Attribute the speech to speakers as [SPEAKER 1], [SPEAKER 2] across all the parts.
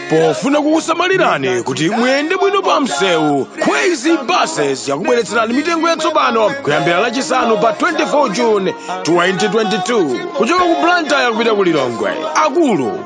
[SPEAKER 1] pofuna kukusamalirani kuti muyende bwino pa msewu kwezy buses yakubweretserani mitengo yatsopano kuyambira lachisanu pa 24 june 2022 kuchoka ku blantyre kupita ku lilongwe akulu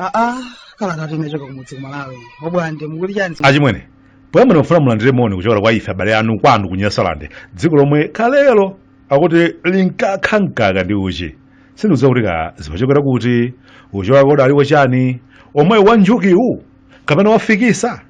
[SPEAKER 1] aa kala kati unachoka kumudzi kumalawi obwande mukuti chani achimwene poyamba ndimafuna mulandire moni kuchokera kwa ife abale anu kwanu ku nyasalande dziko lomwe kalelo akuti linkakha mkaka ndi uchi sindikudziwa kuti kaya zimachokera kuti uchi wake udali wachani omwe wa njukiwu kapena wafikisa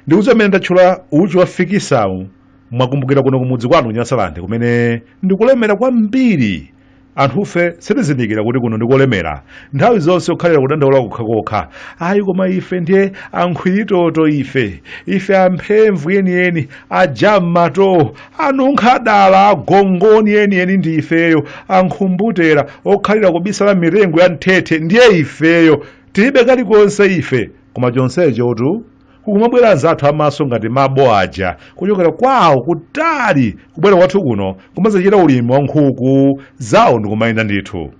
[SPEAKER 1] ndikudziwa mmene ndatchula uchi wafikisawu mwakumbukira kuno kumudzi kwanu kunyasalande kumene ndikolemera kwambiri anthufe sitizindikira kuti kuno ndikolemera nthawi zonse kukhalira kudandaula kokhakokha ayi koma ife ndiye ankhwiritoto ife ife amphemvu yeniyeni aja m'mato anunkha dala agongoni enieni ndi ifeyo ankhumbutera okhalira kubisala m'mitengo ya mthethe ndiye ifeyo tilibe kalikonse ife koma chonsechotu kukumabwera anzathu amaso ngati mabo aja kuchokera kwawo kutali kubwera kwathu kuno kumazachita ulimi wa nkhuku zawo ndikumayenda ndithu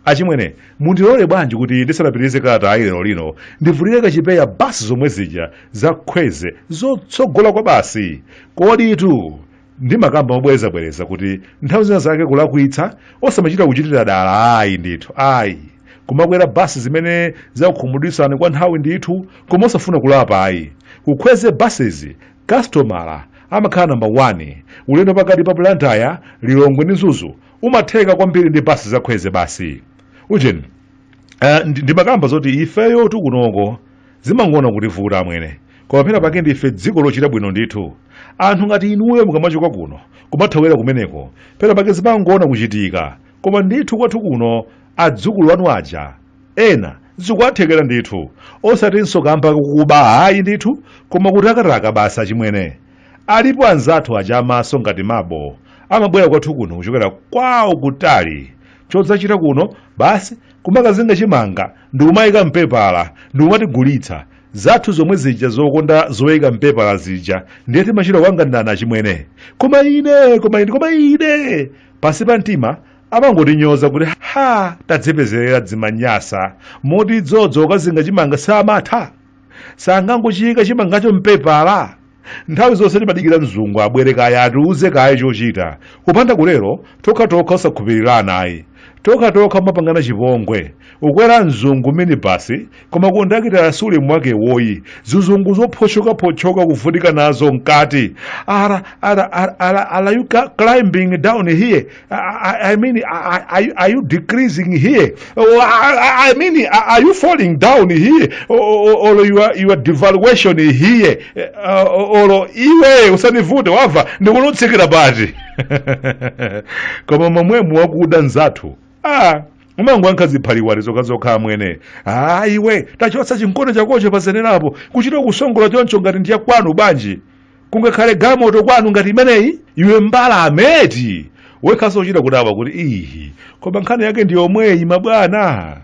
[SPEAKER 1] Achimwene, mundilole bwanji kuti ndisanapitirize kalatayi lero lino ndivulire kaye chipewa basi zomwe zija za kwezy zotsogola kwabasi. Koditu ndimakamba mobwerezabwereza kuti nthawi zina zake kulakwitsa osamachita kuchitira dala ayi ndithu ayi kumakwera basi zimene zakukhumudwitsani kwa nthawi ndithu koma osafuna kulapa ayi ku kwezy buses kasitomala amakhala namba 1 ulendo pakati pa blantyre lilongwe ndi mzuzu umatheka kwambiri ndi basi za kwezy basi ujeni eh, ndi- ndimakamba zoti ifeyotu kunoko zimangoona kutivuta amwene koma pena pake ndife dziko lochita bwino ndithu anthu ngati inuyo mukamachoka kuno kumathawira kumeneko pena pake zimangoona kuchitika koma ndithu kwathu kuno adzukulu anu aja ena zikuwathekera ndithu osatinso kamba kokuba ayi ndithu koma kutakataka basi achimwene Alipo anzathu aja amaso ngati mabo amabwera kwathu kuno kuchokera kwawo kutali chodzachita kuno basi kumakazinga chimanga ndikumayika mpepala ndikumatigulitsa zathu zomwe zija zokonda zoyika mpepala zija ndiye timachita kukanganirana achimwene koma ine koma ine koma ine pansi pa mtima amangotinyoza kuti ha tadzipezerera dzimanyasa moti dzodzo kukazinga chimanga samatha sungangochiyika chimangacho m'pepala nthawi zonse timadikira mzungu abwere kaye atiuze kaye chochita kupanda kutero tokhatokha osakhulupirirana ayi tokhatokha kumapangana chipongwe akwera mzungu minibasi koma kondakitala si ulemu wakewo ihi zizungu zophotchokaphotchoka kuvutika nazo mkati ara are you climbing down here I, I mean, I, are you decreasing here? Oh, I, I mean, are you falling down here? Or, or, or you're, you're devaluation here? Uh, or iwe usanivute wava ndi ukutsikira pati koma mwamwemo wakuda nzathu ah umangokhala nkhaza ziphaliwali zokhazokha amwene ah iwe tachotsa chimkono chakocho pazenerapo kuchita kusongola choncho ngati ndi yakwanu banji kungakhale galimoto kwanu ngati imeneyi iwe mbalame eti wekhanso kuchita kudabwa kuti ihi koma nkhani yake ndi yomweyi mabwana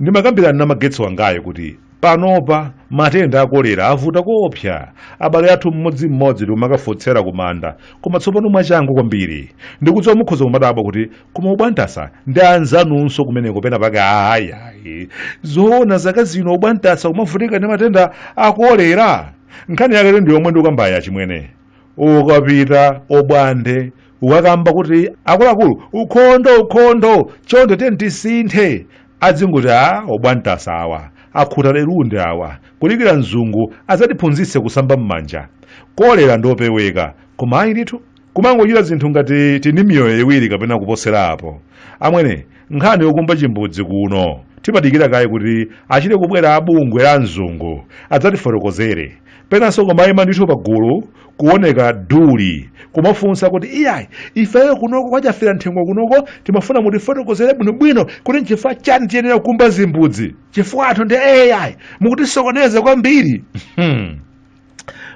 [SPEAKER 1] ndimakambirana na Magetsi wangayu kuti panopa matenda a kolera avuta koopsa abale athu mmodzimmodzi tikumakafotsera kumanda koma tsopano mwachangu kwambiri ndikudziwa mukhoza kumadabwa kuti koma obwantasa ndi anzanunso kumeneko pena pake ayayi zoona zaka zino obwantasa kumavutika ndi matenda a kolera nkhani yake ndi yomwe ndikukambayi achimwene ukapita obwande ukakamba kuti akuluakulu ukhondo ukhondo chonde tiyeni tisinthe azingoti aa obwantasa awa akhuta lelunde awa kudikira mzungu adzatiphunzitse kusamba m'manja kolera ndiopeweka koma ayi ndithu kumangochita zinthu ngati tili ndi miyoyo iwiri kapena kuposera apo amwene nkhani yokumba chimbudzi kuno timadikira kaye kuti achite kubwera abungwe la mzungu adzatifotokozere penanso kumayima ndithu pagulu kuoneka duli kumafunsa kuti iyayi ifeyo kunoko kwa Chafera mthengo kunoko timafuna mutifotokozere bwinobwino kuti nchifukwa chani tiyenera kukumba zimbudzi chifukwatu ndi ayi mukutisokoneza kwambiri hmm.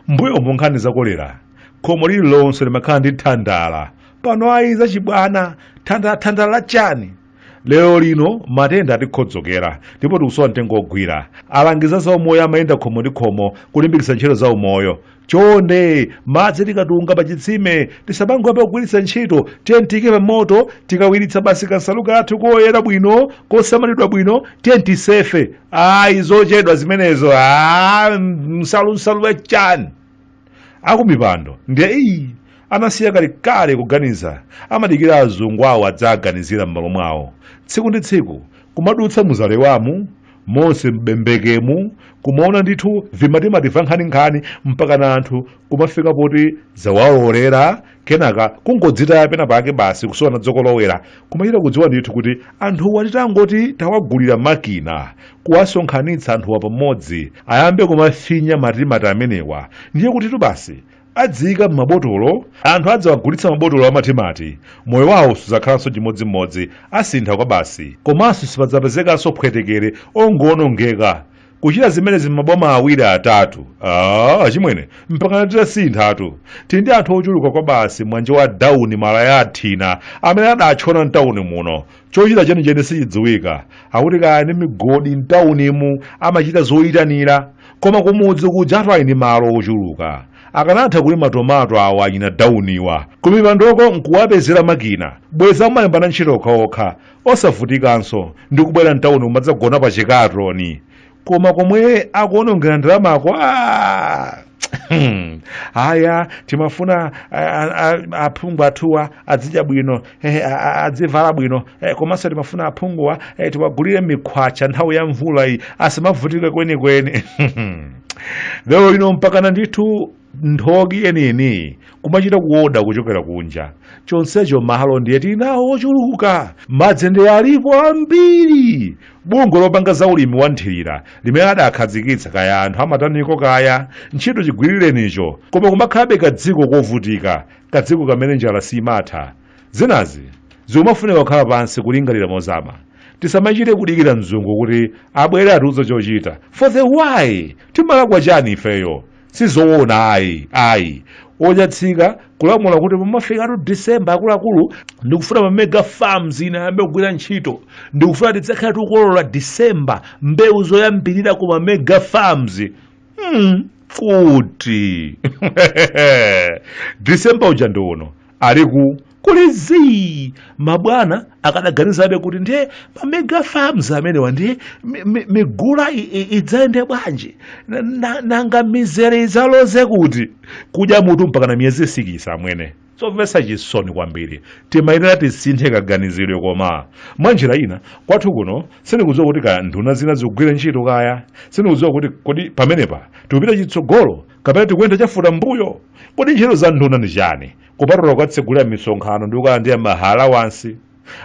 [SPEAKER 1] mbuyomu nkhani za kolera khomo lililonse limakhala ndi thandala pano ayi zachibwana thandala thandala la chani lero lino matenda atikhodzokera ndipo tikusowa mtengo ogwira alangizi a za umoyo amayenda khomo ndi khomo kulimbikitsa ntchito za umoyo chonde madzi tikatunga pa chitsime tisamangoyamba kugwiritsa ntchito tiyeni tiyike pa moto tikawiritsa basi kansalu kathu koyera bwino kosamalidwa bwino tiyeni tisefe ayi zochedwa zimenezo ah, nsalu nsalu ya chani akumipando ndiye ihi anasiya kalekale kuganiza amadikira azungu awo adzawaganizire m'malo mwawo tsiku ndi tsiku kumadutsa mu Zalewamu monse m'Bembekemu kumaona ndithu vitomati va nkhaninkhani mpakana anthu kumafika poti zawaolera kenaka kungodzitaya pena pake basi kusowana dzokolowera kumachita kudziwa ndithu kuti anthuwa titangoti tawagulira makina kuwasonkhanitsa anthuwa pamodzi ayambe kumafinya matimati amenewa ndiye kutitu basi adziyika m'mabotolo anthu adzawagulitsa mabotolo amatimati moyo wawo suzakhalanso chimodzimodzi asintha kwabasi komanso sipadzapezekanso phwetekere ongowonongeka kuchita zimenezi m'maboma awiri atatu ah, achimwene mpakana titasinthatu tili ndi anthu ochuluka kwabasi mwanje wa dawuni malaya athina amene adatchona mtawuni muno chochita chenicheni sichidziwika akuti kaya ndi migodi mtawunimu amachita zoyitanira koma kumudzi kuja anthu ali ndi malo ochuluka akanatha kulima tomato awo achina dawuniwa kumipandoko nkuwapezera makina bweza amalembana ntchito okhaokha osavutikanso ndi kubwera mtauni kumadzagona pa chikatoni koma komwe akuonongera ndalamako ah! aya timafuna a- a- a- aphungu athuwa adzidya bwino eh, a- a- adzivala bwino eh, komanso timafuna aphunguwa eh, tiwagulire mikhwacha nthawi ya mvula iyi asamavutike kwenikweni lero lino mpakana ndithu nthoki yeniyeniyi kumachita kuoda kuchokera kunja chonsecho malo ndiye tili nawo ochuluka madzi ndiye alipo ambiri bungwe lopanga za ulimi wa nthirira limene adakhazikitsa kaya anthu amataniko kaya ntchito chigwirirenicho koma kumakhalabe kadziko kovutika kadziko kamene njala simatha zinazi zikumafunika kukhala pansi kulingalira mozama tisamachite kudikira mzungu kuti abwere atiuze chochita for the why timalakwa chani ifeyo sizowona ayi ayi ochatsika kulamula kuti pamafika tu december akuluakulu ndikufuna ma mega farms ine ayambe kugwira ntchito ndikufuna tidzakhala tikukolola december mbewu zoyambirira ku ma mega farms hmm, kuti december uja ndi uno ali ku kuli zii mabwana akadaganizabe kuti ndiye mamega farms amenewa ndiye mi- mi- migula i- i- idzayende bwanji Na- na- nanga mizere idzaloze kuti kudya mutu mpakana miyezi sikisi amwene zomvetsa chisoni kwambiri timayenera tisinthe kaganizidwe koma mwa njira ina kwathu kuno sindikudziwa kuti kaya nduna zina zikugwira ntchito kaya sindikudziwa kuti kodi pamenepa tikupita chitsogolo kapena tikuyenda chafutambuyo kodi ntchito za nduna ndi chani kupatula kukatsegulira misonkhano ndi kukalandira ma allowance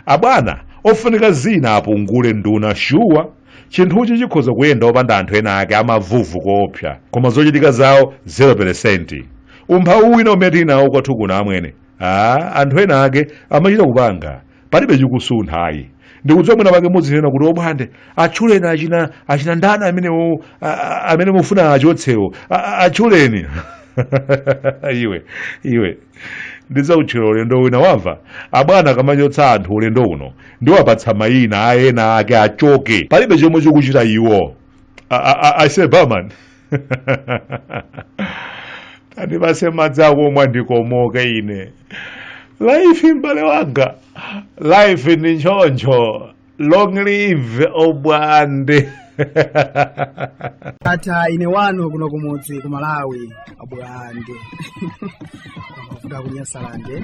[SPEAKER 1] abwana ofunika zina apungule nduna shuwa chinthuchi chikhoza kuyenda opanda anthu ena ake amavuvu koopsa koma zochitika zawo 0 peresenti umphawi wina umene tili nawo kwathu kuno amwene aa anthu ena ake amachita kupanga palibe chikusuntha ayi ndikudziwa mwina pake muzidzanena kuti obwande atchuleni achina achina ndani amenewo a- a- amene mufuna achotsewo A- a- atchuleni iwe iwe ndidzakutchula ulendo wina wamva abwana akamachotsa anthu ulendo uno ndiwapatsa mayina a ena ake achoke palibe chomwe chikuchita iwo I, I, I say barman tandipatse madzi akumwa ndikomoke ine life mbale wanga life ndi nchoncho long live obwande ata ine wanu kuno kumudzi ku malawi obwande mafuta kunyasalande